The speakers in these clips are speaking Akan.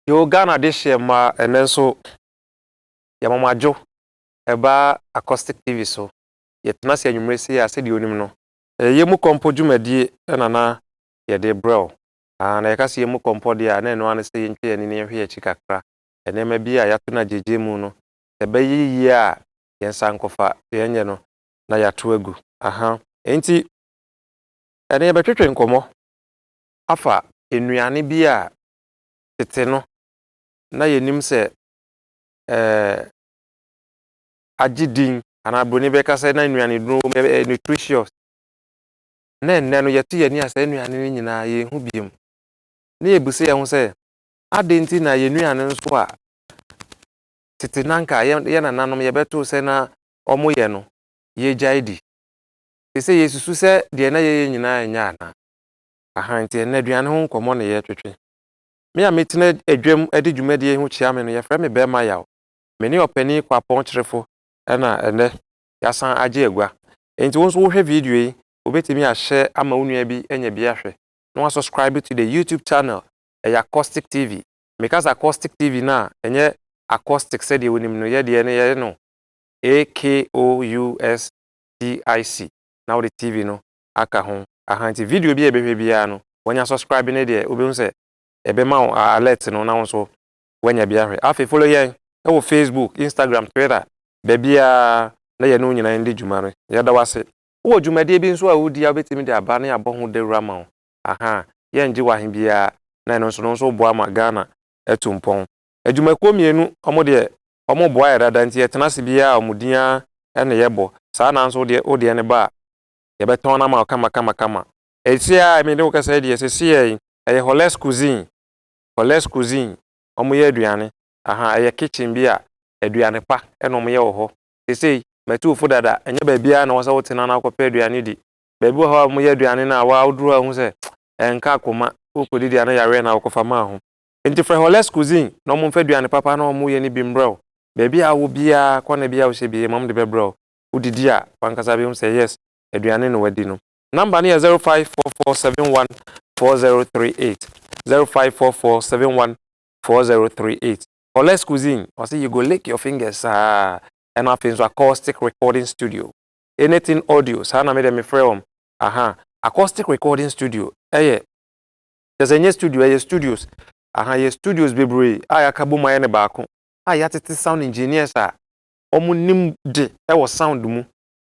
Yo Ghana de hyeɛ mmaa ɛnɛ nso yɛma mo adwo ɛba Accoustic TV so yɛtena ase anwummere sei a sɛdeɛ onim no Ɛyɛ yɛn mu kɔmpɔ dwumadie na na yɛde brɛ wo. Aah, na yɛka sɛ yɛn mu kɔmpɔ deɛ a, na ɛno ara ne sɛ yɛntwa yɛn ani na yɛnhwɛ yɛn akyi kakra. Nneɛma bi a yɛato no agyegyeɛ mu no, sɛ ɛbɛyɛ yie a, yɛn nsa nkɔfa, deɛ ɛnyɛ no, na yɛato agu. Aha. Enti, ɛnnɛ yɛbɛtwetwe nkɔmmɔ afa nnuane bi a tete no, na yɛnim sɛ ɛɛ. agye din anaa broni bɛka sɛ na nnuane duro wɔ mu ɛyɛ nutritious na ɛnnɛ no yɛto yɛn ani a saa nnuane no nyinaa yɛnhu biom na yɛbisa yɛn ho sɛ adɛn nti na yɛn nnuane nso a tete na nka yɛn nananom yɛbɛtoo sɛ na wɔyɛ no yɛgyae di te sɛ yɛsusu sɛ deɛ na yɛyɛ nyinaa nyɛ anaa aha nti ɛnnɛ aduane ho nkɔmmɔ na yɛtwetwe me a metena adwam de dwumadie ho kyia me no yɛfrɛ me bɛrima yaw Me ne Ɔpanin Kwapɔn Kyerefo na ɛnnɛ yɛasan agye agua. Enti wo nso wohwɛ video yi, wubetumi ahyɛ ama wo nua bi anya bi ahwɛ na wasubscribe to the YouTube channel. Ɛyɛ Accostick TV. Meka sɛ Accostick TV no a, ɛnyɛ Accostick sɛdeɛ wonim no. Yɛn deɛ no, yɛyɛ no AKOUSTIC, na wode TV no aka ho. Aha nti video bi a yɛbɛhwɛ biara no, wanya subscribe no deɛ, wobɛhu sɛ ɛbɛma wo alert no na wo nso wanya bi ahwɛ. Afei follow yɛn wɔ Facebook, Instagram, Twitter, baabiara na yɛne wo nyinaa ndi dwuma no. Yɛda wo ase. Wowɔ dwumadie bi nso a wodi a wobɛtumi de aba na yɛabɔ ho dawuro ama wo? Ahaa, yɛngye wo ahe biara na ɛno nso no nso woboa ma Ghana atu mpɔn. Adwumakuo mmienu, wɔn deɛ wɔboa yɛ dada nti yɛtena ase biara wɔn din ara na yɛbɔ. Saa na nso wo deɛ, wo deɛ no ba a, yɛbɛtɔn no ama wo kama kama kama. Ɛse a me ne wo kasa yi deɛ ɛsɛ seɛ yi, ɛyɛ Holles Cuisine. Paulette Cuisine, wɔyɛ aduane, ahaa, ɛyɛ kitchen bi a aduane pa na wɔyɛ wɔ hɔ. Seesei, m'atuwofo dada, ɛnyɛ baabiara na ɛwɔ sɛ wotena na wokɔpɛ aduane di. Baabi wɔ hɔ a wɔyɛ aduane no a, waa, woduru hɔ a wuhu sɛ ɛnka akoma, worekɔdidi a na yareɛ na wokɔfa maa ho. Enti frɛ Paulette Cuisine na wɔmfa aduane papa a na wɔyɛ no bi mmrɛ wo. Baabi a wowɔ biara, kɔ na bi a wohyɛ bi, ɛma wɔde bɛbrɛ wo. Wodidi a, w'ankasa behu sɛ, yes, aduane na woadi no. Number no yɛ zero five four four seven one four zero three eight zero five four four seven one four zero three eight. Holles Cuisine ɔsɛ you go lick your fingers saa ɛna afei nso Acoustic Recording Studio anything audio saa na me deɛ me frɛ wɔn aha Acoustic Recording Studio ɛyɛ kyɛ sɛ ɛnyɛ studio ɛyɛ studios aha yɛ studios bebree a yɛaka bom ayɛ ne baako a yɛatete sound engineers a wɔn nim de ɛwɔ sound mu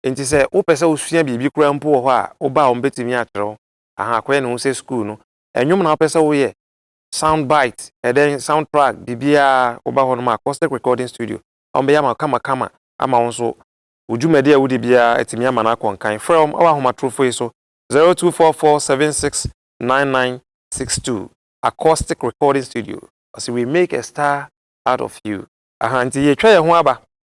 Enti sɛ wopɛ sɛ wosua biribi koraa mpo wɔ hɔ a, wo ba a obetumi akyerɛ wo. Ahaa, akɔyɛ ne ho sɛ sukuu no. Nnwom na wopɛ sɛ woyɛ, sound bite, ɛdɛn, sound track, biribiara, woba hɔnom a, Accoustic Recording Studio, wɔbɛyɛ ama wo kamakama ama wo nso. Wo dwumadi a wudi biara, atumi ama no akɔ nkan. Frɛ wɔn wɔ ahomatorofo yi so, zero two four four seven six nine nine six two, Accoustic Recording Studio. Ɔse, We make a star out of you. Ahaa, enti yɛatwa yɛn ho aba.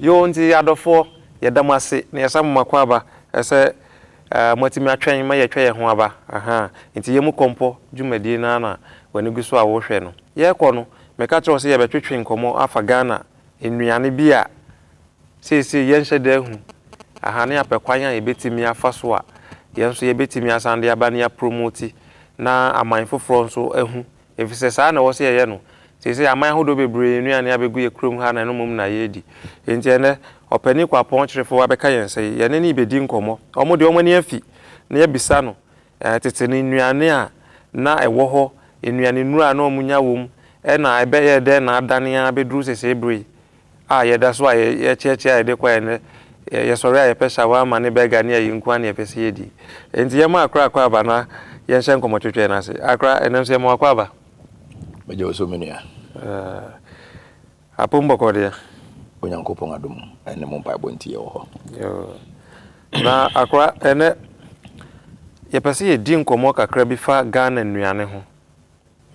Yoo nti adɔfoɔ yɛda mo ase na yɛsa mo makwaaba ɛsɛ moatumi atwɛn ma yɛatwa yɛn ho aba ahaa nti yɛ mu kɔmpɔ dwumadie no ara na w'ani gu so a wohwɛ no yɛkɔ no meka kyerɛ wo sɛ yɛbɛtwetwe nkɔmmɔ afa Ghana nnuane bi a seesei yɛnhyɛ da ahu ahaa ne apɛ kwan a yɛbɛtumi afa so a yɛn nso yɛbɛtumi asan de aba ne apromoti na aman foforɔ nso ahu Efisɛ saa na ɛwɔ sɛ yɛyɛ no. Seesei aman ahodoɔ bebree yɛn nnuane abɛgu yɛn kurom ha na ɛno mmom na yɛredi. Enti ɛnnɛ, ɔpanin Kwapɔn Kyerefo abɛka yɛn sɛ yɛne no rebɛdi nkɔmmɔ. Wɔn deɛ wɔn ani afi na yɛabisa no tete no nnuane a na ɛwɔ hɔ, nnuanennuro a na wɔnya wom, ɛna ɛbɛyɛɛ dɛn na adane ara bɛduru seesei berɛ yi. a yɛda so a yɛkyeakyea a yɛde kɔ a ɛnɛ yɛsɔre a yɛpɛ shawarma ne burger ne ayi nkoa ne yɛpɛ sɛ yɛdi. Enti yɛma Akra akwaaba na yɛnhyɛ nkɔmmɔ twɛtwɛɛ no ase. Akra, ɛnnɛ nso yɛma wo akwaaba. Megye wo so me nua. Eh, apom bɔkɔɔ deɛ? Onyankopɔn adom ne mo mpaebɔ nti yɛwɔ hɔ. Yoo. Na Akra, ɛnɛ yɛpɛ sɛ yɛdi nkɔmmɔ kakra bi fa Ghana nnuane ho.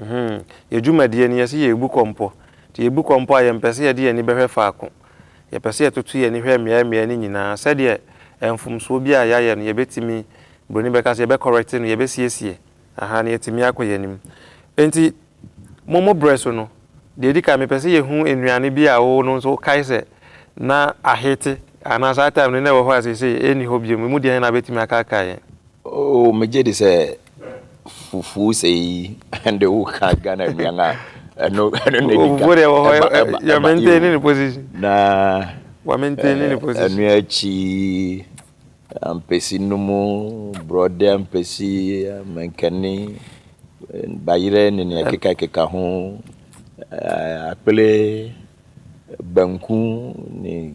Mhmm yɛ dwumadie no yɛse yɛrebu kɔmpɔ nti yɛbu kɔmpɔ a yɛmpɛ sɛ yɛde yɛn ani bɛhwɛ faako. Yɛpɛ sɛ yɛtoto yɛn ani hwɛ mmeaɛ mmeaɛ no nyinaa sɛdeɛ ɛɛ mfomsoɔ bi a yɛayɛ no yɛbɛtumi, broni bɛka sɛ yɛbɛ correct no, yɛbɛsiesie ahaa na yɛatumi akɔ yɛn anim. Enti mo mo berɛ so no, deɛ ɛdi kan mepɛ sɛ yɛhu nnuane bi a wo no nso wokae sɛ na ahete anaa saa time no na ɛwɔ hɔ a seisei ɛnni hɔ biom, ɛmu deɛn na wobɛtumi akaakae yɛn? Oh megye di sɛ fufu sei ɛnde woka Ghana nnuan a ɛno ɛno na edi kan. Fufu deɛ wɔ hɔ ɛba ɛba ɛba yɛmɛntɛn ne ne position. Na wɔmɛntɛn ne ne position. Ɛno akyi ampesi no mu borɔde ampesi mankani bayerɛ ne nea ɛkeka keka ho akpele. Banku ne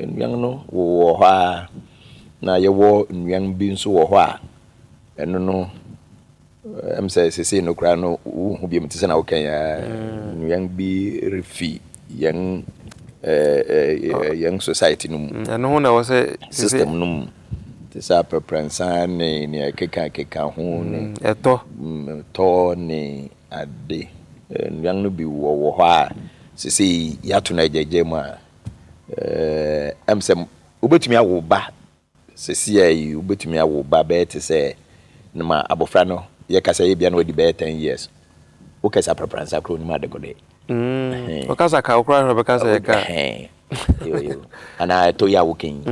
nnuan no wowɔ hɔ ara, na yɛwɔ nnuan bi nso wɔ hɔ a, ɛno no, ɛm sɛ sesei no koraa no wonhu biom te sɛ na wokae ara. Mm. Nnuan bi refi yɛn ɛɛ yɛn society no mu. Mm, ɛno ho na ɛwɔ sɛ sesei- System no mu. Te sɛ aprɛprɛnsa ne nea ɛkeka keka ho ne Mm, ɛtɔ. mm, tɔ ne ade. Nnuan no bi wɔ wɔ hɔ a, seesei yɛato no agyaagyaa mu a, ɛm sɛ wobɛtumi awo wo ba. Seesei yi, wobɛtumi awo wo ba bɛyɛ te sɛ no ma abɔfra no yɛka sɛ ebia na wadi bɛyɛ ten years. Wokɛse aprapransa koraa ɔnim adekodeɛ. Mm, wokasa ka wo koraa hwɛ bɛka sɛ ɛka. Yo, yo. Anaa ɛtɔ yi a woka yi.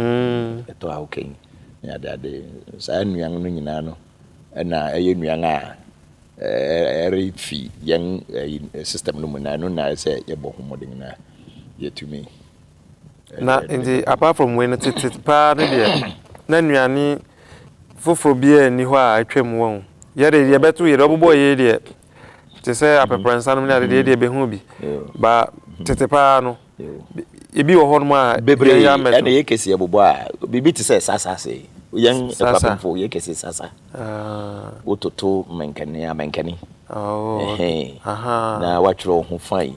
Ɛtɔ a woka yi. Ne adeade. Saa nnuan no nyinaa no na ɛyɛ nnuan a ɛrefi yɛn ɛyi system no mu na ɛno na ɛsɛ yɛbɔ ho mmɔden na yɛtumi. na nti apart from wei no tete paa no deɛ na nnuane foforɔ biara nni hɔ a atwam wɔn yɛde deɛ bɛto yɛde ɔbobɔ yei deɛ te sɛ apɛprɛnsa nom ne ade deɛ deɛ bɛhu bi ba tete paa no Ebi wɔ hɔnom a bebree ɛna yɛ kɛse ɛbobɔ a biribi te sɛ sasa se yɛn ɛfapemfo yɛ kɛse sasa wototo mɛnkɛne a mɛnkɛne na watwerɛ wo ho fae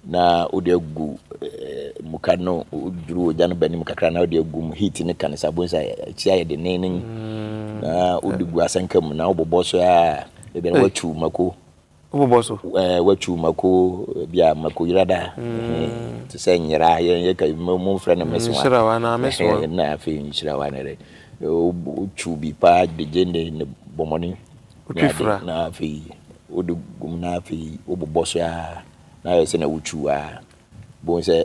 na wode agu muka no duru ogya no banim kakra na wode agu mu heat ne ka no sɛ abɔn sɛ akyi ayɛ denenen na wode gu asɛnka mu na wobobɔ so a ebi na watu mako Wobobɔ so. Watwiw mako bi a mako yera da te sɛ nyera yɛn yɛka mo mfrɛ no mesoa nhyirawa na mesoa na afei nhyirawa na dɛ wotwiw bi paa de gyende ne bɔmmɔne wotwifra na afei wode gum na afei wobobɔ so a na ayɛ sɛ na wotwiw a Bohu sɛ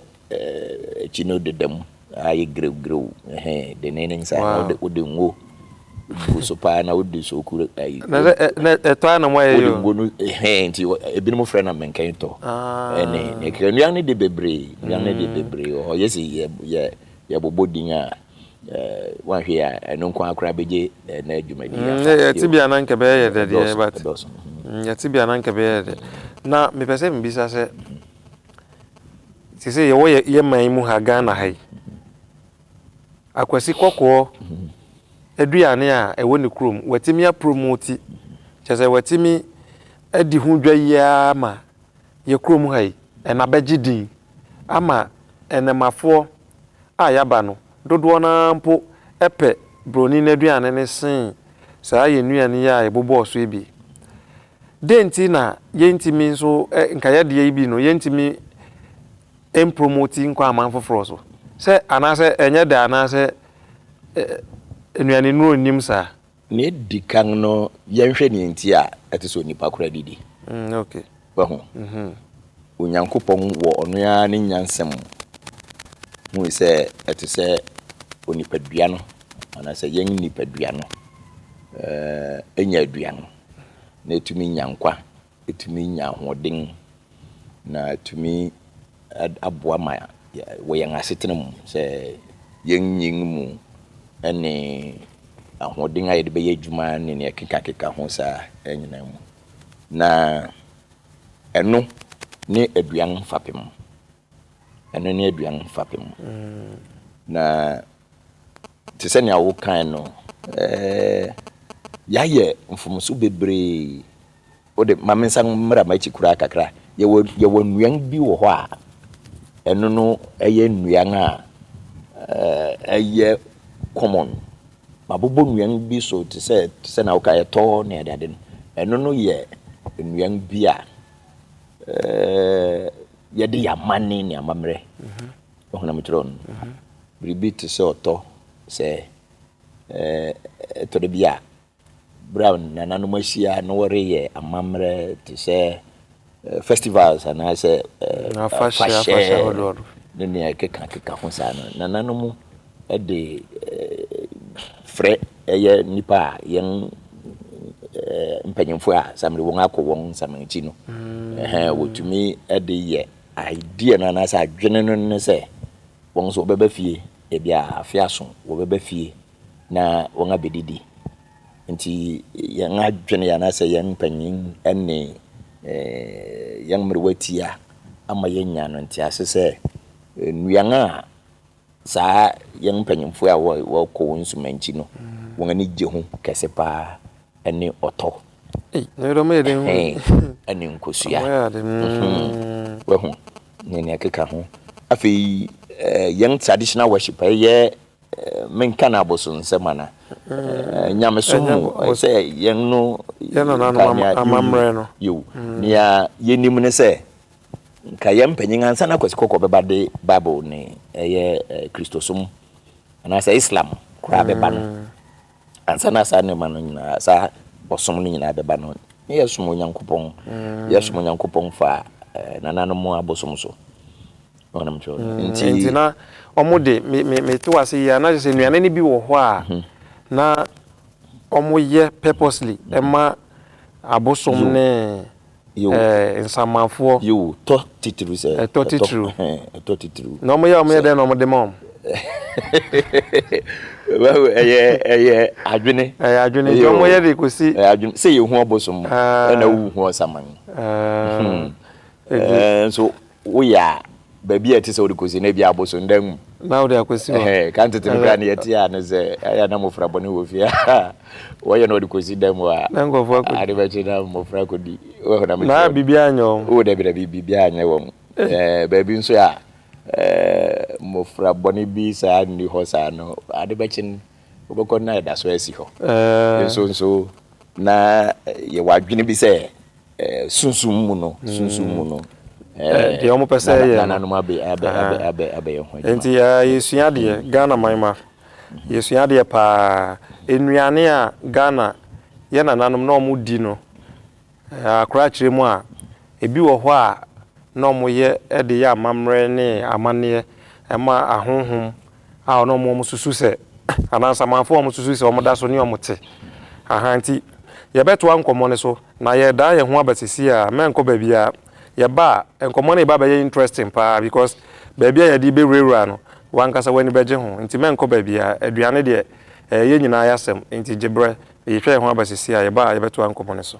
akyi no deda mu ayɛ grewgrew ɛhɛn denneenen saa na wode wode ngo gu so paa na wode soku ayi. Na na ɛtɔ ara na mo ayɛ yɛ. Wode ngo no ɛhɛn nti ebinom frɛ na mɛnkɛn tɔ. Ɛne ah. ne kira nnuan no de bebree nnuan no de mm. bebree wɔ hɔ yɛsi yɛ yɛ yɛbobɔ din a wanhwɛ a ɛno nko akora bɛgye na adwumadi mm, yɛ yɛte bia na nkɛbɛyɛ yɛ dɛdeɛ but mm, yɛte bia na nkɛbɛyɛ yɛ dɛ na mepɛ sɛ mebisa sɛ Seesei yɛwɔ yɛ yɛ man mu ha Ghana ha yi, akwasi kɔkɔɔ aduane a ɛwɔ ne kurom watumi apromoti, kyerɛ sɛ watumi adi ho dwa yi ara ma yɛ kurom ha yi ɛna abɛgye din ama ɛnɛmafoɔ a yɛaba no dodoɔ no ara mpo pɛ broni no aduane no sen saa yɛn nnuane yi a yɛbobɔɔ so yi bi. Dɛn nti na yentumi nso nka yɛn deɛ yi bi no yentumi mpromoti nkɔ aman foforɔ so? Sɛ anaasɛ ɛnyɛ dɛ anaasɛ nnuanennuro nnim saa? Nea edi kan no, yɛnhwɛ nea enti a ɛte sɛ onipa koraa didi. Wahu? Onyankopɔn wɔ ɔno ara ne nyansa mu hui sɛ ɛte sɛ onipadua no anaasɛ yɛn nipadua no nya aduan no. na ɛtumi nya nkwa, ɛtumi nya ahoɔden, na ɛtumi aboa ma wɔ yɛn asetena mu sɛ yɛnyin mu ne ahoɔden a yɛde bɛyɛ adwuma ne nea ɛkekakeka ho saa nyinaa mu. Na ɛno ne aduan fapem. Ɛno ne aduan fapem. Na te sɛ nea wokae no, yɛayɛ mfomso bebree. Wo de, ma mensan mmra m'akyi koraa kakra. Yɛwɔ, yɛwɔ nnuan bi wɔ hɔ a, ɛno no ɛyɛ nnuan a ɛyɛ common. Mabobɔ nnuan bi so te sɛ, te sɛ nea wokae, ɛtɔ ne adeade no. Ɛno no yɛ nnuan bi a Yɛde yɛn amanne ne amammerɛ ɔhonam kyerɛ no. Biribi te sɛ ɔtɔ sɛ ɛtɔ da bi a berɛ a nananom ahyia na wɔreyɛ amammerɛ te sɛ festivals anaasɛ afahyɛ ne nea ɛkekakeka ho saa no nananom de frɛ ɛyɛ nnipa a yɛn mpanyinfoɔ a samiri wɔn akɔ wɔn nsamanti no ɛhɛn wɔtumi de yɛ idea no anaasɛ adwene no ne sɛ wɔn nso wɔbɛba fie ebi a afe aso wɔbɛba fie na wɔn abɛdidi nti yɛn adwene anaasɛ yɛn mpanyin ne yɛn mmerewa ti a ama yɛnya no nti ase sɛ nnuan a Saa yɛn mpanyimfo a wɔkɔ wɔn nsumankyi no, wɔn ani gye ho kɛse paa ne ɔtɔ. Ɛne nkosua. Wahu ne nea ɛkeka ho. Afei yɛn traditional worship ɛyɛ menka no abosonsɛm ana nyamesom mu sɛ yɛn no amammerɛ no. Nea yɛnim ne sɛ Nka yɛn mpanyin ansa na Kwasi Kɔkɔɔ bɛba de Bible ne ɛyɛ Kristosom anaasɛ Islam koraa bɛba no, mm. ansa na saa nneɛma no nyinaa saa ɔsom no nyinaa bɛba no, ne yɛsom Onyankopɔn, mm. yɛsom Onyankopɔn fa eh, nananom abosom so. Ɔnam kyerɛ no. Mm. Nti nti na wɔn de me me me to ase yie anaasɛ sɛ nnuane no bi wɔ hɔ a mhm. na wɔn yɛ purposely ɛma abosom ne. ɛɛ, nsamanfoɔ. Yiw, tɔ titiriw sɛ. Ɛtɔ titiriw. Ɛhɛn, ɛtɔ titiriw. Na wɔyɛ a wɔyɛ dɛn na wɔde ma wɔn? Wahu, ɛyɛ, ɛyɛ adwene. Ɛyɛ adwene, nti wɔyɛ de kɔsi. Ɛyɛ adwene, sɛ yɛhu abosom ɛna wohu ɔsaman. Ɛɛ, ɛɛ, nso. woyɛ a, baabi a ɛte sɛ wode kɔsi no, ebi abosondan mu. Na wode akɔsi hɔ. Ɛhɛn, kan tete no koraa no yɛte a no sɛ, ɛyɛ na mmofra bɔne wɔ fie a, wɔyɛ na wɔde kɔsi dan mu a, na nkurɔfoɔ akɔdi. Ade bɛkye na mmofra akɔdi. Woahu na mekyerɛ. Na biribiara anyɛ wɔn. Oh, dabi, dabi, biribiara anyɛ wɔn. Eh. Eh, baabi nso a, eh, mmofra bɔne bi saa nni hɔ saa no, ade bɛkye no, wobɛkɔ na ɛda so asi hɔ. Eh. Nso, nso, na yɛwɔ adwene bi sɛ, Eh, sunsum mu no sunsum mu no eh, deɛ wɔpɛ sɛ ɛyɛ nananom abɛ abɛ abɛ abɛ abɛyɛ ho adwuma nti yɛsua deɛ mm. Ghana man ma mm-hmm. yɛsua deɛ paa nnuane a Ghana yɛ nananom na wɔn di no akora akyerɛ mu a ebi wɔ hɔ a na wɔyɛ de yɛ amammerɛ ne amanneɛ ɛma ahonhom a ɔne wɔn susu sɛ, anaa nsamanfo a wɔsusu sɛ wɔda so ne wɔn te. Ahaa nti, yɛbɛtoa nkɔmmɔ no so, na yɛredan yɛn ho aba seesei ara, mɛnkɔ baabiara. Yɛba a, nkɔmmɔ no reba abɛyɛ interesting paa because baabi a yɛde rebɛwurawura no, w'ankasa w'ani bɛgye ho, nti mɛnkɔ baabiara. Aduane deɛ, ɛyɛ yɛn nyinaa yɛ asɛm, nti gye berɛ. Yɛretwa yɛn ho aba seesei ara, yɛba a yɛbɛtoa nkɔmmɔ no so.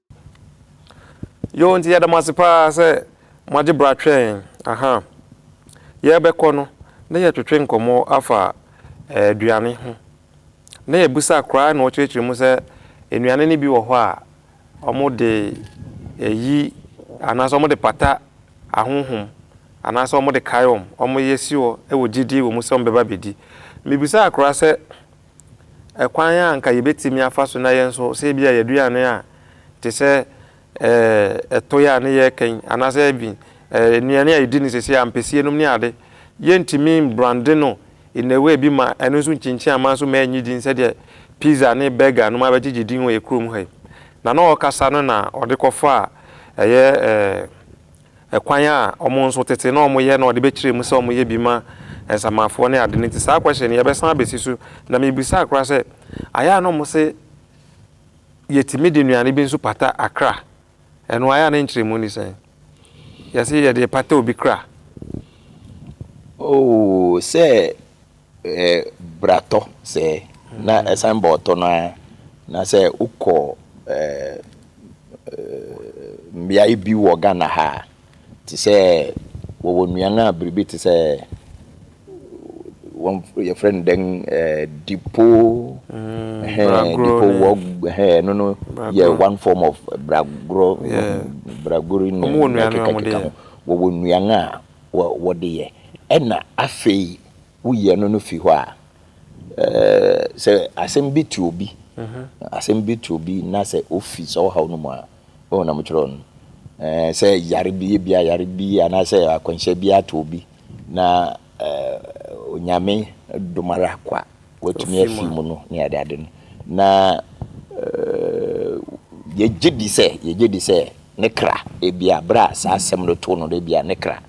Yoo nti yɛda mo ase paa sɛ mo agye bra twɛn yɛn aha yɛbɛkɔ no na yɛ twetwe nkɔmɔ afa aduane ho na yɛ bisa koraa na ɔkyerɛkyerɛ mu sɛ nnuane no bi wɔ hɔ a ɔmo de ɛyi anaasɛ ɔmo de pata ahohom anaasɛ ɔmo de kae ɔmo ɔmo yɛ si hɔ ɛwɔ gyidie wɔ mu sɛ ɔmo bɛba bɛdi mebisa koraa sɛ Ɛkwan a anka yɛbɛtumi afa so na yɛn nso sɛ ebia yɛaduane a te sɛ ɛtoeɛ a ne yɛ kɛn anaasɛ even nnuane a yɛdi no sɛsɛ a ampesie nom ne ade, yɛntumi mbrande no in a way bi ma ɛno nso nkyinkyin aman so ma ɛnyi din sɛdeɛ pizza ne burger nom abɛgyegye din wɔ yɛ kurom ha yi. Na na ɔrekasa no na ɔde kɔfaa ɛyɛ kwan a wɔn nso tete na wɔyɛ na wɔde bɛkyerɛ mu sɛ wɔyɛ bi ma nsamanfoɔ ne ade no nti saa question no yɛbɛsan abɛsi so na mebisaa koraa sɛ ayɛ a na wɔn se yɛtumi de nnuane bi nso pata akra ɛno ayɛ a ne nkyerɛmu ne sɛn yɛse yɛde pata obi kra Oh, sɛ bratɔ sɛɛ na ɛsan ba ɔtɔ no ara na sɛ wokɔ mmeae bi wɔ Ghana ha a, te sɛ wɔwɔ nnuan a biribi te sɛ wɔn yɛfrɛ no dɛn dipo dipo wɔ ɛno no yɛ one form of bragorɔ bragori ne ɛkekakeka ho wɔwɔ nnuan a wɔde yɛ ɛna afei woyɛ no no fi hɔ a, sɛ asɛm bi to obi, asɛm bi to obi na sɛ ofi sɛ ɔhaw no mu a, ɛwɔ na mokyerɛw no. Sɛ yare bi bi a yare bi anaasɛ akwanhyia bi ato obi na Onyame dom ara kwa. Watumi afi mu no ne adeade no. Na yɛgye di sɛ, yɛgye di sɛ ne kra, ebia bere a saa asɛm no too no no, ebia ne kra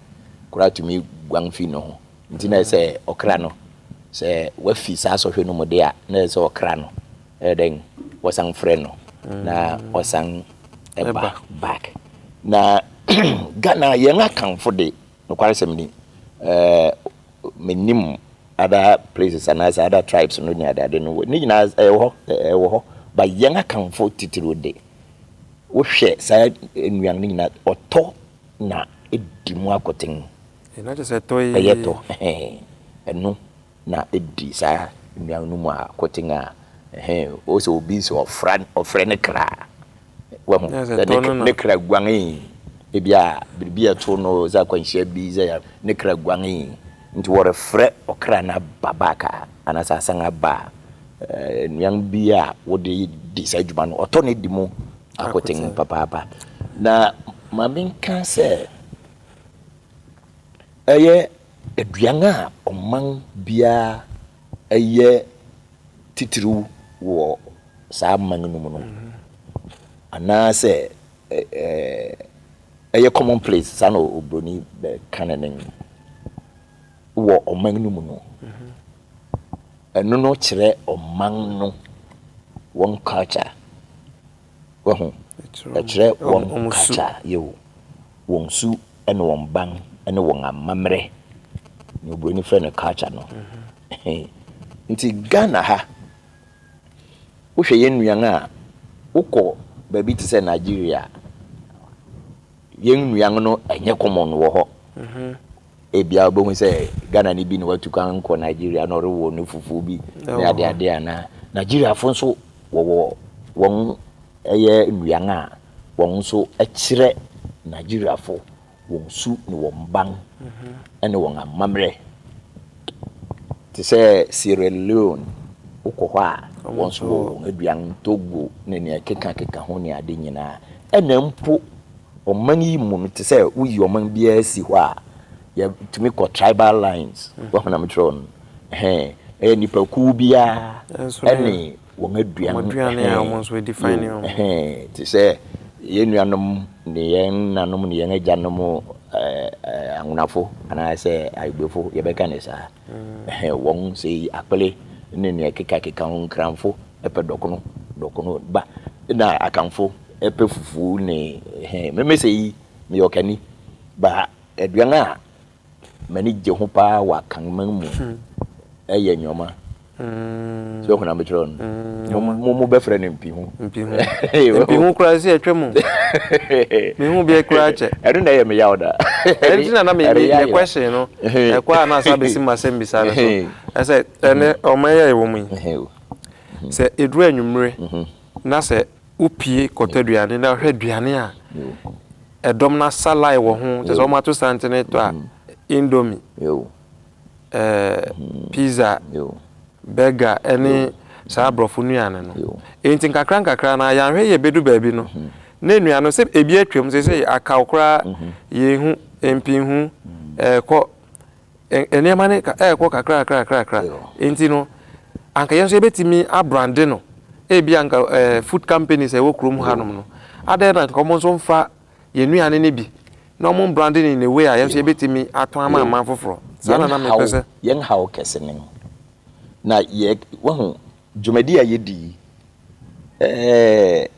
koraa tumi guan fi ne ho. Nti na ɛyɛ sɛ ɔkra no, sɛ wafi saa sɔhwɛ no mu de a, na ɛyɛ sɛ ɔkra no ɛyɛ dɛn, wɔsan frɛ no na ɔsan ɛba back. Na Ghana yɛn akanfo de, Nokwaresɛm ni, minnim other places anaasɛ other tribes no ne adeade no, ne nyinaa ɛwɔ hɔ, ɛwɔ hɔ, but yɛn Akanfoɔ titiriw de, wohwɛ saa nnuan no nyinaa, ɔtɔ na edi mu akoten. Ɛno kyerɛ sɛ ɛtɔ ee. Ɛyɛ tɔ, ɛhɛn, ɛno na edi saa nnuan no mu akoten a, ɛhɛn, wosɛ obi sɛ ɔfra, ɔfrɛ no kra a. Wahu dɛ ne ne kra guanee. Bi a biribi a ɛtoo no, dza akwanhyia bi dza yɛ ne kra guanee. Ntsi wɔrefrɛ ɔkra no aba back a, anaasɛ asan aba a, nnuan bi a wɔde di saa dwuma no, ɔtɔ no di mu akoten papaapa. Na ma menka sɛ, ɔyɛ aduan a ɔman biara yɛ titiriw wɔ saa mma no nom no, anaasɛ ɛyɛ common place saa na obroni bɛka ne nen wɔ ɔman no mu no, ɛno no kyerɛ ɔman no wɔn culture. Wahu? Ɛkyerɛ wɔn culture, yɛwo wɔn su ne wɔn ban ne wɔn amammerɛ na obroni frɛ no culture no. Nti Ghana ha Wohwɛ yɛn nnuan a, wokɔ baabi te sɛ Nigeria a, yɛn nnuan no ɛnyɛ common wɔ hɔ. Ebia wobɛhu sɛ Ghana ni bi na watu kwan kɔ Nigeria na ɔrewɔ ne fufuo bi ne adeade anaa. Nigeriafo nso wɔwɔ wɔn ɛyɛ nnuan a wɔn nso ɛkyerɛ Nigeriafo. wɔn su ne wɔn ban ne wɔn amammerɛ. Te sɛ Sierra Leone, wokɔ hɔ a, wɔn nso wɔ wɔn aduan, Togo ne nea ɛkekakeka ho ne ade nyinaa. Ɛna mpo ɔman yi mu no, te sɛ woyi ɔman biara si hɔ a, yɛtumi kɔ tribal lines, wahunam kyerɛ no, ɛyɛ nnipakuw biara ne wɔn aduan ho ɛhɛn te sɛ yɛn nuanom ne yɛn nanom ne yɛn agyanom anwonafo anaasɛ ayebefo yɛbɛka ne saa ɛhɛn wɔn sɛ yi akpele ne nea ɛkekakeka ho nkranfo ɛpɛ dɔkono dɔkono ba na akanfo ɛpɛ fufuo ne ɛhɛn mmɛmɛ sɛ yi meyɛ ɔkani ba aduan a M'ani gye ho paa wɔ akanman mu. Ɛyɛ nyoma. Sɛ ɔhuna mekyerɛ no. Mo mo bɛfrɛ no mpihu. Mpihu. Mpihu kura sɛ ɛtwa mu. Mehu bi kura kyɛ. Ɛno na ɛyɛ me yaw da. Ɛnti na na me me question no. Ɛkɔ a na asa bɛsi mu asɛm bisa no so. Ɛsɛ ɛnɛ ɔman yɛ ɛwɔ mu yi. Sɛ ɛduru anwummere na sɛ Wopue kɔtɔ aduane na wohwɛ aduane a ɛdɔm no asa line wɔ ho, kyerɛ sɛ wɔato santene retɔ a, indomie, pizza, burger ne saa aborɔfo nnuane no. Enti nkakrankakra no ara, yɛanhwɛ yie bɛdu baabi no, na nnuane no, sɛ ebi atwam, seesei akaw koraa, yɛnhu, mpinhu, ɛrekɔ, Nneɛma no rekɔ kakrakrakra. Enti no, anka yɛn nso yɛbɛtumi abrande no. Ebia anka food companies a ɛwɔ kurom hanom no, adɛn na anka wɔn nso mfa yɛn nnuane no bi na wɔmbrande no in a way a yɛn nso yɛbɛtumi atɔn ama aman foforɔ? Saa na na mepɛ sɛ. Yɛn haw kɛse ne no. Na yɛ, wahu, dwumadi a yɛdi yi, ɛɛ,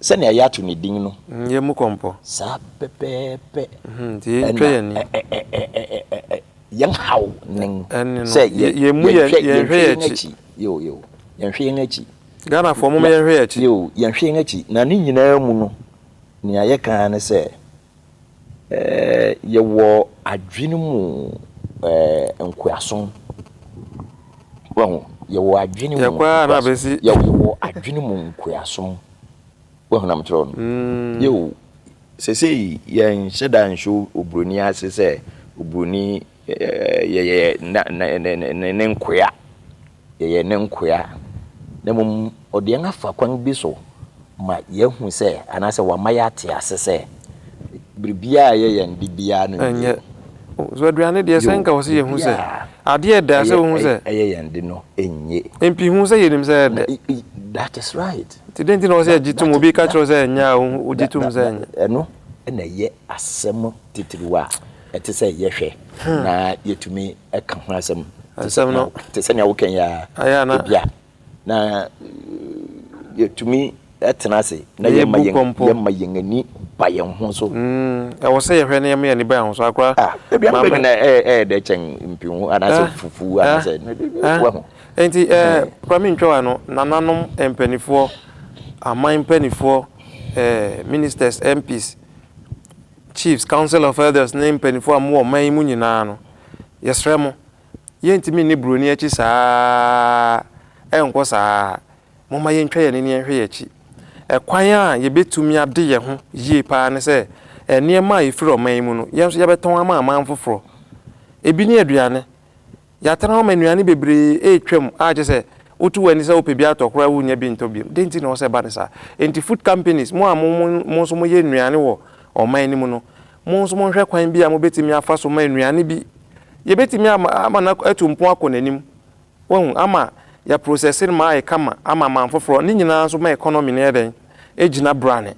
Sɛnea yɛato no din no. Yɛn mu kɔmpɔ. Saa pɛpɛɛpɛ. Nti yɛntwa yɛn ani. Ɛnna yɛn haw ne no. Ɛne no. Sɛ yɛnhwɛ yɛn akyi. Yoo yoo. Yɛnhwɛ yɛn akyi. Ghanafoɔ mom yɛnhwɛ yɛn akyi. Yoo yɛnhwɛ yɛn akyi. Na ne nyinaa mu no, nea yɛka ara ne sɛ Yɛwɔ adwene mu nkoasom. Wahu? Yɛwɔ adwene mu nkoasom. Yɛkɔ ara na abɛsi. Yɛwɔ adwene mu nkoasom. Wahu na mekyerɛ no. Mm. Yeo, sesei yɛnhyɛ da nhyɛ oburoni ase sɛ oburoni yɛyɛ ne nkoa. Yɛyɛ ne nkoa, na mmom ɔde yɛn afa kwan bi so ma yɛahu sɛ, anaasɛ wama yɛate ase sɛ, biribiara a ɛyɛ yɛn de biara no nni hɔ. So aduane deɛ, sɛ nka ɔse yɛhu sɛ adeɛ a ɛdɛ a, sɛ wohu sɛ. Ɛyɛ yɛn de no nnye. Mpi hu sɛ yɛnim sɛ ɛdɛ. That is right. Nti dɛn nti na ɔsɛ yɛgye tom, obi ka kyerɛ wo sɛ ɛnyɛ a, wogye tom sɛ ɛnyɛ. Ɛno na ɛyɛ asɛm titiriw a. ɛte sɛ yɛhwɛ na yɛtumi ka ho asɛm te sɛ nea wokan yi ara ebia na yɛtumi tena ase na yɛmma yɛn ani ba yɛn ho so. Mm, ɛwɔ sɛ yɛhwɛ na yɛma yɛn ani ba yɛn ho so akora. Ah, ebi ama bɛbi na ɛyɛ dɛ kyɛn mpinhu anaasɛ ah. fufu anaasɛ ah. wahu. Nti ɛɛ eh, hmm. kura mi ntwa wa no nananom mpanimfoɔ aman mpanimfoɔ ɛɛ eh, ministers MPs Chiefs, Council of Elders ne mpaninfoɔ a mowɔ ɔman yi mu nyinaa no, yɛsrɛ mo, yɛntumi nni buroni akyi saa ara, ɛnkɔ saa ara. Momma yɛntwa yɛn ani nhwɛ yɛn akyi. Ɛkwan a yɛbɛtumi ade yɛn ho yie pa ara ne sɛ nneɛma a ɛfiri ɔman yi mu no, yɛn nso yɛbɛtɔn ama aman foforɔ. Ebi ne aduane, Yɛatena hɔ ma nnuane bebree retwam a kyerɛ sɛ woto w'ani sɛ wopɛ bi atɔ koraa a wunnya bi ntɔ bio. Dɛn nti na ɛwɔ sɛ ɛba no saa? Enti food companies, mo a mo nso moyɛ nnuane wɔ ɔman no mu no, mo nso monhwɛ kwan bi a mubetumi afa so ma nnuane bi yebetumi ama no atu mpɔn akɔ n'anim, wahu, ama yɛaprosɛse no ma ayɛ kama ama aman foforo, ne nyinaa nso ma economy no yɛ dɛn? gyina brane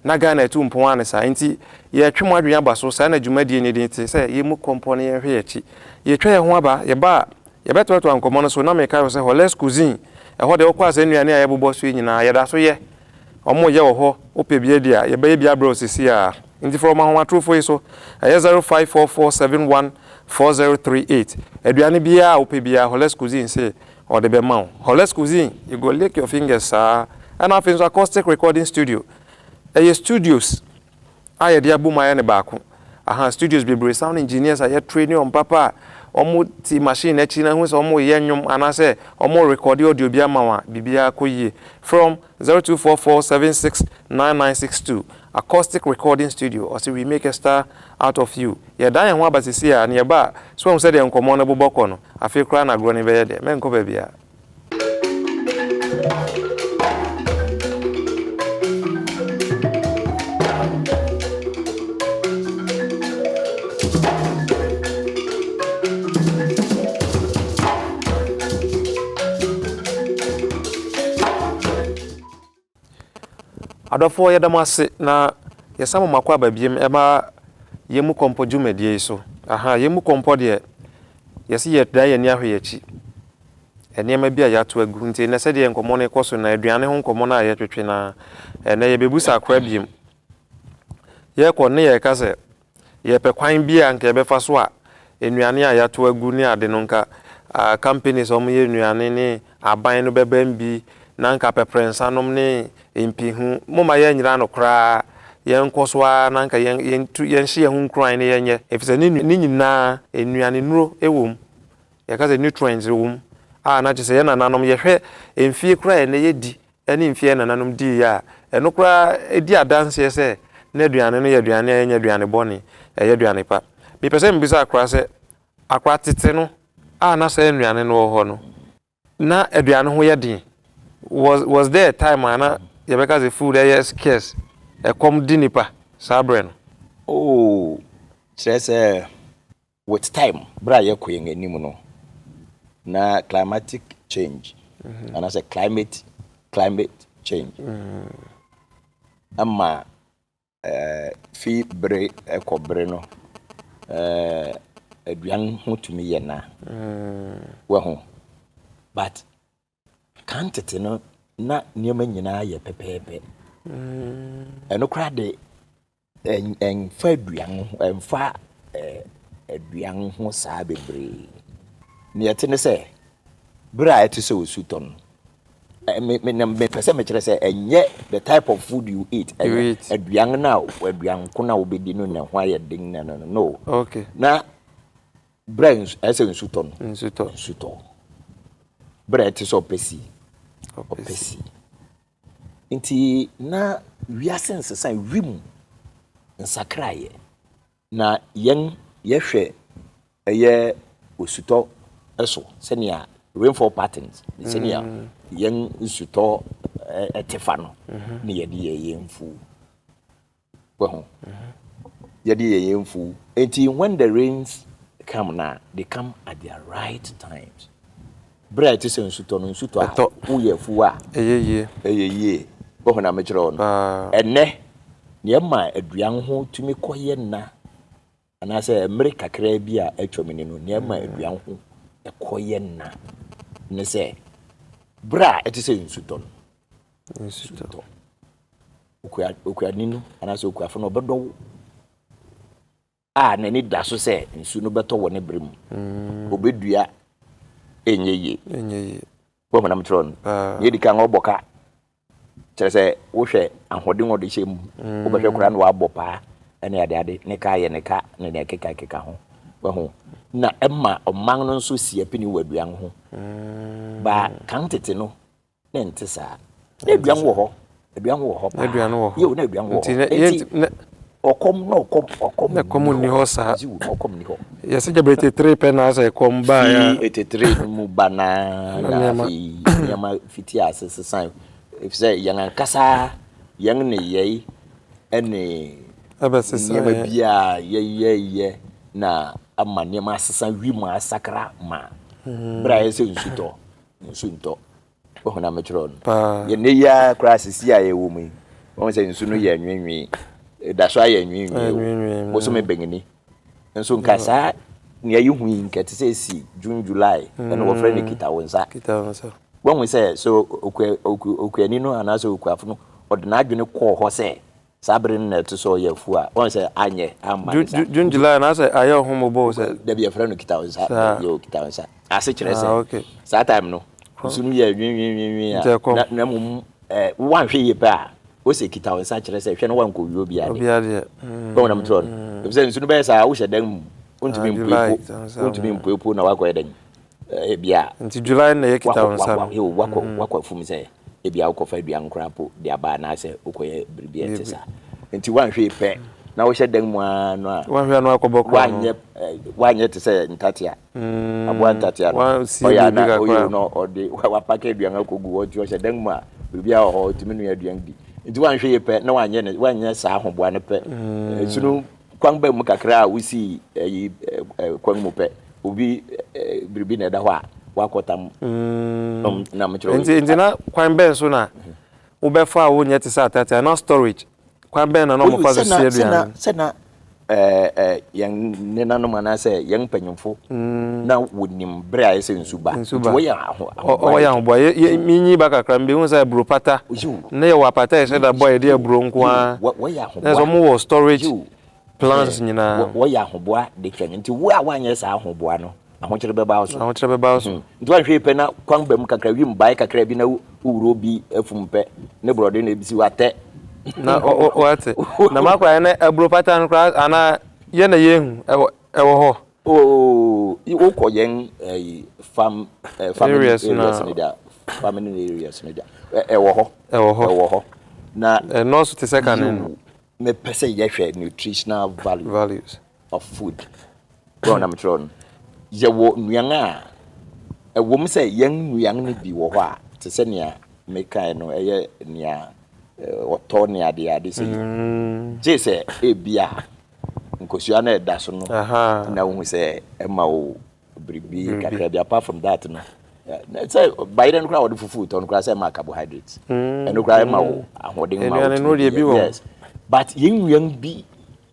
na Ghana atu mpɔn ara ne saa nti yɛretwe mo adwene aba so saa na dwumadie no din te sɛ yɛmmu kɔmpɔ na yɛnhwɛ yɛn akyi yɛretwa yɛn ho aba yɛba a yɛbɛtoatoa nkɔmmɔ no so na meka kyerɛ sɛ Holler's Cuisine ɛhɔ deɛ wokɔ a saa nnuane a yɛbobɔ so yi nyinaa yɛda so yɛ wɔn reyɛ wɔ hɔ wopɛ bi adi a yɛbɛyɛ bi abrɛ wo seesei ara. Enti fa ɔma ahomatorofo yi so, ɛyɛ zero five four four seven one four zero three eight. Aduane biara a wopɛ biara, Holez Cuisine se ɔde bɛma wo. Holez Cuisine, you go lick your fingers saa. Ɛna afei nso Acoustic Recording Studio, ɛyɛ studios a yɛde abom ayɛ no baako. Aha, studios bebree, sound engineers a yɛtraini wɔn papa a wɔte machine akyi na ahu sɛ wɔreyɛ nnwom anaasɛ wɔrerekɔde audio bi ama wo a, biribiara kɔ yie. From. Zero two four four seven six nine nine six two Accoustic Recording Studio ɔse we make a star out of you Yɛdan yɛn ho aba seesei a na yɛba a So woahu sɛdeɛ nkɔmmɔ no bobɔ kɔ no Afei koraa na agorɔ no bɛyɛ dɛ Mɛnkɔ baabiara Adɔfoɔ yɛda mo ase na yɛsan mo mako aba biem ɛma yɛn mu kɔmpɔ dwumadie yi so aha yɛn mu kɔmpɔ deɛ yɛsi yɛ dan yɛn ani ahwɛ yɛn akyi nneɛma bi a yɛato agu nti ɛnɛ sɛdeɛ nkɔmɔ no rekɔ so na aduane ho nkɔmɔ no a yɛtwetwe na ɛnɛ yɛbɛbu sakora biem yɛkɔ ne yɛka sɛ Yɛpɛ kwan bi a nka yɛbɛfa so a nnuane a yɛatow agu ne ade no nka companies a wɔyɛ nnuane ne aban no bɛbam bi na nka pɛprɛnsanom ne mpihu. Momma yɛnnyera no koraa. Yɛnkɔ so ara na nka yɛntu yɛnhyɛ yɛn ho nkuran na yɛnyɛ efisɛ ne ne nyinaa nnuanenuro wom. Yɛka sɛ nutrients wom a na kyerɛ sɛ yɛn nananom yɛhwɛ mfie koraa a ɛnnɛ yɛadi ne mfe a nananom dii a ɛno koraa di adanse sɛ na aduane no yɛ aduane a ɛnyɛ aduane bɔne, ɛyɛ aduane pa. Mepɛ sɛ mibisa akora sɛ, akora tete no a na saa nnuane no wɔ hɔ no, na aduane ho yɛ den? Was, was there a time a na yɛbɛka sɛ food ɛyɛ scarce, ɛkɔm di nnipa saa berɛ no? Oh, kyerɛ sɛ With time, berɛ a yɛkɔ yɛn anim no, na climatic change mm-hmm. anaasɛ climate climate change ɛma mm-hmm. eh, fi bere ɛkɔ bere no eh, aduan ho tumi yɛ na mm-hmm. wahu but Kan tete no, na nneɛma nyinaa yɛ pɛpɛɛpɛ. Mm. Ɛno koraa de ɛnfa aduan ho ɛnfa aduan ho saa bebree. Nea ɛte ne sɛ bere a ɛte sɛ osu tɔ no mepɛ sɛ mekyerɛ sɛ ɛnyɛ the type of food you eat ɛnyɛ aduan no a aduan ko no a wobɛdi no na ho ayɛ den na no no no na Berɛ a ɛyɛ sɛ nsu tɔ no, nsu tɔ. Berɛ a ɛte sɛ ɔpɛ si, ɔpɛ si. Nti na wiase nsesa, wim nsakraeɛ. Na yɛn yɛhwɛ ɛyɛ osutɔ so sɛnea rainfall patterns, sɛnea yɛn nsutɔ ɛte fa no, na yɛde yɛ yɛn mfuo. Wahu? Yɛdeɛ yɛn yɛn mfu. Enti when the rains come na, they come at their right times. Berɛ a ɛte sɛ nsutɔ no, nsutɔ a Ɛtɔ. woyɛ afuo a, Ɛyɛ yie. ɛyɛ yie. Wahu na mekyerɛ wo no? Paa. Ɛnnɛ, nea ɛma aduan ho tumi kɔyɛ na Anaasɛ mmere kakraa bi a atwam ni no, nea ɛma aduan ho kɔ yɛ nã ne sɛ bere a ɛte sɛ nsutɔ no, nsutɔ, okua, okuani no anaasɛ okuafo no ɔbɛdɔ wo a n'ani da so sɛ nsu no bɛtɔ wɔ ne bere mu. Mm. Obedua ɛnyɛ yie. Ɛnyɛ yie. Wɔhonam kyerɛ no. Nea ɛdi kan ɔbɔ ka. Kyerɛ sɛ, wohwɛ ahoɔden a ɔde hyɛ mu, wobɛhwɛ koraa na wabɔ paa ne adeade, ne ka a ɛyɛ ne ka ne nea ɛkekakeka ho. Wahu? Na ɛma ɔman no nso si apini wɔ aduan ho. Ba kan tete no, na ɛnte saa. Na aduan wɔ hɔ. Aduan wɔ hɔ paa. Aduan wɔ hɔ. Yeo, na aduan wɔ hɔ. Nti, Ɔkɔm na ɔkɔm, ɔkɔm nni hɔ. Na ɛkɔm nni hɔ saa. Ɔkɔm nni hɔ. Yɛ sɛ gyabere tetere pɛ na asɛ ɛkɔm baa ya. Fi etetere no mu ba na na afei nneɛma fiti ase sesan. Efisɛ yɛn ankasa yɛn nneyɛe ne nneɛma bi a yɛyɛyɛ na ama nneɛma asesa, wim asakra ma. Bere a ɛsɛ nsu tɔ, nsu ntɔ. Wohu na mekyerɛw no? Paa. Yɛ nnɛ yi ara koraa sisi a yɛwɔ mu yi, wohu sɛ nsu no yɛ nwenwee. Ɛda so ayɛ nwenwee o. Nwenwee. Bosome bɛn ni? Nso nka saa nea yehu yi, nka ɛte sɛ esi June, July, ɛna wɔfrɛ no kita wo nsa. Kita wo nsa. Woahu sɛ sɛ okuani no anaasɛ okuafo no, ɔde n'adwene kɔɔ hɔ sɛ Saa bere no na ɛto so ɔyɛ afuw a wɔn sɛ anyɛ amma ne nsa. June July na sɛ ayɛ ɔho mmobɔ o sɛ. Dabi yɛfrɛ no kita wo nsa yɛ o kita wo nsa ase kyerɛ sɛ saa time no nsu no yɛ nwenwenwenwen a na mmom woanhwɛ yie pɛ a wose kita wo nsa kyerɛ sɛ hwɛ na wankɔ wie obi adeɛ bɛn na motorɔ no efisɛ nsu no bɛyɛ saa wohyɛ dan mu wontumi mpuepuo wontumi mpuepuo na wakɔyɛ dan Ebia woakɔ afuom sɛ ebia wokɔfa aduan koraa mpo de aba anaasɛ wokɔyɛ biribi a ɛte saa. Enti woanhwɛ yie pɛ na wohyɛ dan mu ara no a, woanyɛ te sɛ ntatea, aboa ntatea no, ɔyɛ a na ɔyɛ o na ɔde wapake aduan akɔgu hɔ. Nti ɔhyɛ dan mu a, biribiara wɔ hɔ, ɔtumi noa aduan di. Nti woanhwɛ yie pɛ na woanyɛ saa ahoboa no pɛ, ɛsono Kwan bɛn mu kakra a wosii ayi kwan mu pɛ, obi biribi na ɛda hɔ a wakɔtam nom na mekyerɛ Nti, nti na kwan bɛn so na wobɛfa a wonyɛ te sɛ atɛtɛ anaa storage? Kwan bɛn na na wɔfa so sie aduane? Sɛ na yɛn nenanom anaasɛ yɛn mpanyimfo na wonim. Bere a ayɛ sɛ nsu ba. Nti wɔyɛ ahoboa. Wɔyɛ ahoboa. Minyin ba kakra, mibehu sɛ aburo pata. Ná yɛwɔ apata a yɛhyɛ da bɔ a yɛde yɛ aburo nko ara. Wɔyɛ ahoboa. Ɛna sɛ wɔwɔ storage plans nyinaa. Wɔyɛ ahoboa de twɛn. Nti wo a woanyɛ saa ahoboa no, ahokyere bɛba wo so. Ahokyere bɛba wo so. Nti woanhwɛ yie pɛ na kwan ba mu kakra, wim bae kakra bi na wowura obi afum pɛ, ne borɔde na ebesi wo atɛ. Na wate. Na m'akwadaa no aburo pata no koraa anaa yɛn na yɛnhu. Ɛwɔ hɔ. Ooh wokɔ yɛn ɛyi farm farming areas no deɛ farming areas no deɛ ɛwɔ hɔ ɛwɔ hɔ ɛwɔ hɔ na ɛnɔɔso te sɛ kane no mepɛ sɛ yɛhwɛ nutritional value values of food wɔn na mekyerɛ no yɛwɔ nnuan a ɛwɔ mu sɛ yɛn nnuan no bi wɔ hɔ a te sɛ nea mekae no ɛyɛ nea ɔtɔ ne adeɛ ade sɛ gye sɛ ebi a nkosua no a ɛda so no na wohu sɛ ɛma wo biribi kakra bi apart from that no sɛ bayerɛ no koraa wɔde fufuo tɔ no koraa sɛ ɛma carbohydrate mm. ɛno koraa ɛma wo ahoɔden ma wo yes but yɛn nnuan bi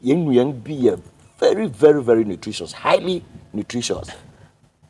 yɛn nnuan bi yɛ very very very nutritious highly nutritious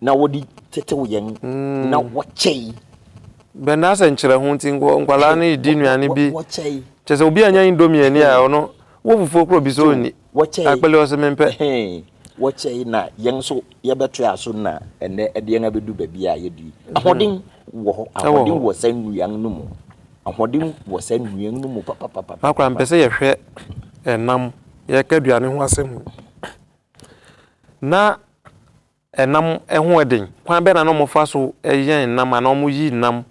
Na wɔde tetew yɛn na wɔkyɛe. Bɛn na sɛ nkyerɛ ho nti nkwadaa no redi nnuane bi kyɛ sɛ obi anya indomie ani a ɔno wo fufuo korɔ bi sɛ ɔnni akpele ɔse mempɛ. Wɔkyɛe na yɛn nso yɛbɛte aso na ɛnɛ ɛde yɛn abɛdu baabi a yɛdi. Ahoɔden wɔ hɔ, ahoɔden wɔ saa nnuan no mu, ahoɔden wɔ saa nnuan no mu papapapa. Akora mpɛ sɛ yɛhwɛ ɛnam yɛka aduane ho asɛm na Nam ho yɛ den. Kwan bɛn na na wɔfa so yɛn nam anaa wɔyi nam?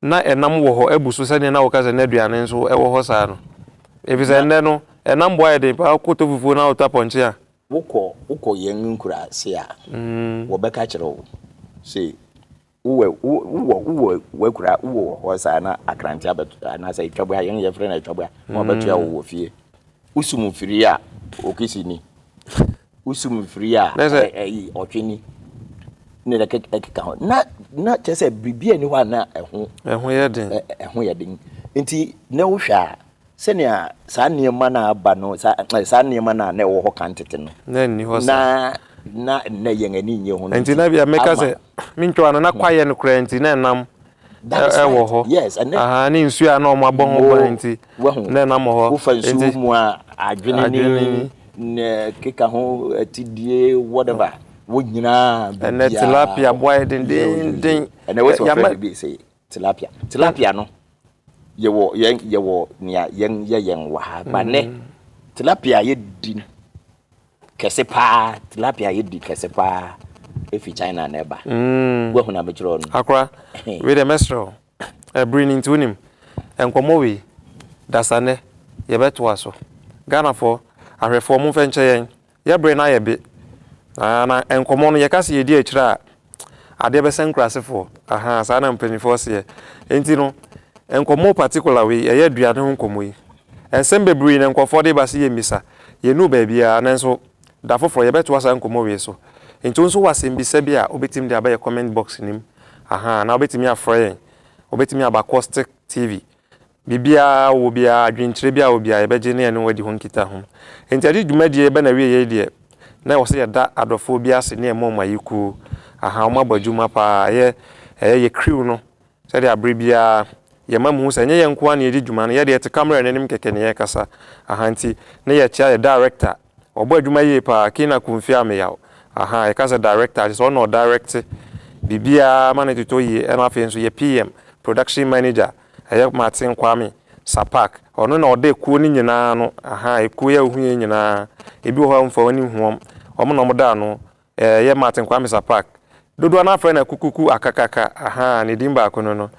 Ná nam wɔ hɔ abu so sɛnea na wɔka sɛ nnɛ aduane nso wɔ hɔ saa no, efisɛ nnɛ no, nam bo ayɛ den paa. Wokɔ tɔ fufuo na wotɔ apɔnkye a. Wokɔ yɛn nkuraase a, wɔbɛka kyerɛ wo sɛ Wowɔ wo wowɔ wowɔ w'akura wowɔ wɔ hɔ saa na akrante abɛto anaasɛ atwabua yɛn yɛfrɛ no atwabua na wɔbɛtoa wo wɔ fie wosum mfiri a okisi ni wosum mfiri a Na sɛ- ɛ- ɛyi ɔtwe ni ne na ɛkeka ɛkeka ho na na kyɛ sɛ biribi a ɛni hɔ a na ɛho ɛho yɛ den ɛ- ɛ- ɛho yɛ den nti na wohwɛ a Sɛnea saa nneɛma no a aba no, saa, eh, saa nneɛma no a na ɛwɔ hɔ kan tete no, na nni hɔ na, na nnɛ yɛn ani nnye ho no Enti nti, na bia meka ama. sɛ, me ntwa no, na hmm. kwaeɛ no koraa nti, na ɛnam That is ɛwɔ right. hɔ. Yes, and then Aha, ne nsuo a na wɔn abɔ ho ban nti, wahu na ɛnam hɔ. wofa nsuo Enti, mu a adwene ne adwene ni, ne keka ho atidie whatever wo nyinaa ɛnɛ biribiaa tilapia boa yɛ yo yo yo dendeenden. ɛnɛ Ɛ, wosɛ wɔfrɛ yama biribi sɛ Tilapia tilapia no yɛwɔ yɛn yɛwɔ nea yɛn yɛ yɛn wɔ ha ba nɛ mm. tilapia yɛ di kɛse paa tilapia yɛ di kɛse paa efi china na ɛba mm. woahu na mekyerɛ no akora wei dɛ mɛserɛ wo ɛbere no nti wonim nkɔmmɔ wei dasanɛ yɛbɛtoa so ghanafoɔ ahwɛfoɔ momfɛ nkyɛ yɛn Yɛ bere no ayɛ be. Ahaa na nkɔmmɔ no yɛka se yɛdi akyire a adeɛ bɛsɛ nkurasefoɔ. Ahaa saa na mpaninfoɔ seɛ. Enti no nkɔmmɔ particular wei ɛyɛ aduane ho nkɔmmɔ yi nsɛm bebree na nkurɔfoɔ de ba se yɛmmisa. Yɛnnuu baabiara nanso da foforɔ yɛbɛtoa saa nkɔmmɔ wei so. Enti wo nso wɔ asɛmmisa bi a wobɛtumi de aba yɛ comment box no mu. Ahaa na wobɛtumi afrɛ yɛn. Wobɛtumi aba Caustic TV Biribiara a ɔwɔ biara, adwenkyerɛ biara a ɔwɔ biara, yɛbɛgye na yɛne wɔn adi ho nkitaho. Enti ɛde dwumadie reba n'awieeɛ deɛ, na ɛwɔ sɛ yɛda adɔfoɔ bi ase ne ɛma wɔn ayekuo. Ahaa, wɔabɔ adwuma pa ara. Ɛyɛ, ɛyɛ yɛ crew no sɛdeɛ aberɛ biara yɛma mohu sɛ ɛnyɛ yɛn nko ara na yɛdi dwuma no, yɛdeɛ yɛte camera no anim kɛkɛ na yɛkasa. Ahaa, enti na yɛkyea yɛ director. Ɔbɔ adwuma yie pa ara, Kina Kumfi Ameyaw. Ahaa, yɛka sɛ director a, kyerɛ sɛ ɔno na ɔdirecte biribiara ma no totɔ yie. Ɛna afei nso yɛ PM, production manager, Ɛyɛ Martin Kwame Sapak, ɔno na ɔda ekuo no nyinaa ano, ahaa, ekuo yi a wohu yei nyinaa, ebi wɔ hɔ a womfa w'ani nhu wɔn, wɔn na wɔda ano, ɛɛ, ɛyɛ Martin Kwame Sapak. Dodoɔ no ara frɛ no Akukuku Akakaka, ahaa, ne din baako no no,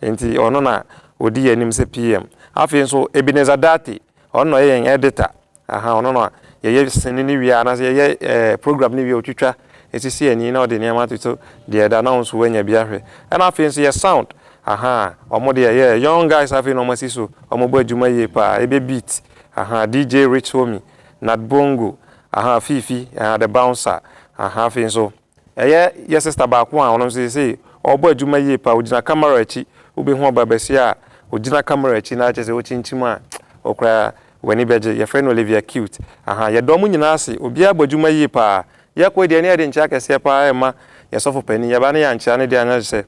enti ɔno na ɔdi yɛn anim sɛ PM. Afei nso, Ebenezer Dartey, ɔno na ɔyɛ yɛn Editor, Ahaa ɔno na yɛyɛ sini no wie a anaasɛ yɛyɛ ɛɛ program no wie a ɔtwitwa ɛsisi ani na ɔde nneɛma atoto deɛ ɛda na wo nso woanya bi ahwɛ ɛna afei nso yɛ sound ahaa wɔn deɛ yɛ young guys afei na wɔn asi so wɔn bɔ adwuma yie paa ɛbɛ beat ahaa DJ Rich Homie Nat Bongo ahaa Fifi ahaa The Bouncer ahaa afei nso. Ɛyɛ yɛ sista baako a ɔno nso seesei ɔrebɔ adwuma yie paa, ɔgyina camera akyi, wobɛhu ɔbaa basia a ɔgyina camera akyi na kyerɛ sɛ wokyinkyim a wo koraa w'ani bɛgye, yɛfrɛ no Olivia Cute. Ahaa, yɛda wɔn nyinaa ase, obiara bɔ adwuma yie paa. Yɛkɔ yi deɛ na yɛde nkyea kɛseɛ paa rema yɛn sɔfo panin, yɛba na yɛankyea no deɛ a na kyerɛ sɛ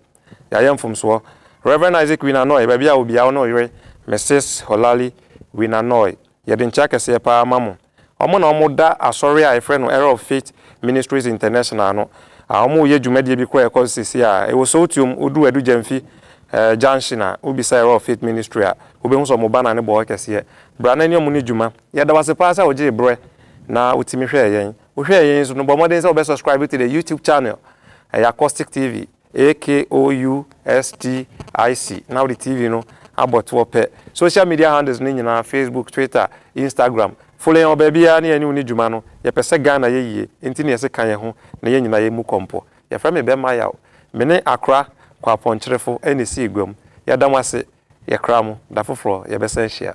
yɛayɛ mfomsoɔ. Rev. Isaac Wynanoy, baabi a wo bia wo ne wo yere Mrs. Holali Wynanoy, yɛde nkyea kɛseɛ paa ma mo. wɔn na wɔda asɔre a yɛfrɛ no Era of Faith Ministries International no, a wɔreyɛ dwumadie bi kɔ a ɛkɔ so seesei a ɛwɔ Sowtiom, woduu Adu Gyamfi eh, junction a, wobisa Era of Faith Ministry a, wobɛhu sɛ wɔn banner no bɔ hɔ kɛseɛ. Bra na ɛne wɔn ne dwuma. Yɛda wo ase paa sɛ wogyee berɛ na wotumi hwɛɛ yɛn. Wohwɛɛ yɛn nso no, bɔ mmɔden sɛ wobɛ subscribe to the YouTube channel, ɛyɛ Accostick TV. AKOUSTIC na wode TV no abɔ toɔ pɛ. Social media handles no nyinaa, Facebook, Twitter, Instagram, follow yɛn wɔ baabiara na yɛne wo ni dwuma no. Yɛpɛ sɛ Ghana yɛ yie nti na yɛse ka yɛn ho na yɛn nyinaa yɛmmu kɔmpɔ. Yɛfrɛ me Bɛmma Yaw. Me ne Akora Kwapɔnkyerefo na ɛsii guam. Yɛda mo ase. Yɛkra mo. Da foforɔ yɛbɛsan ahyia.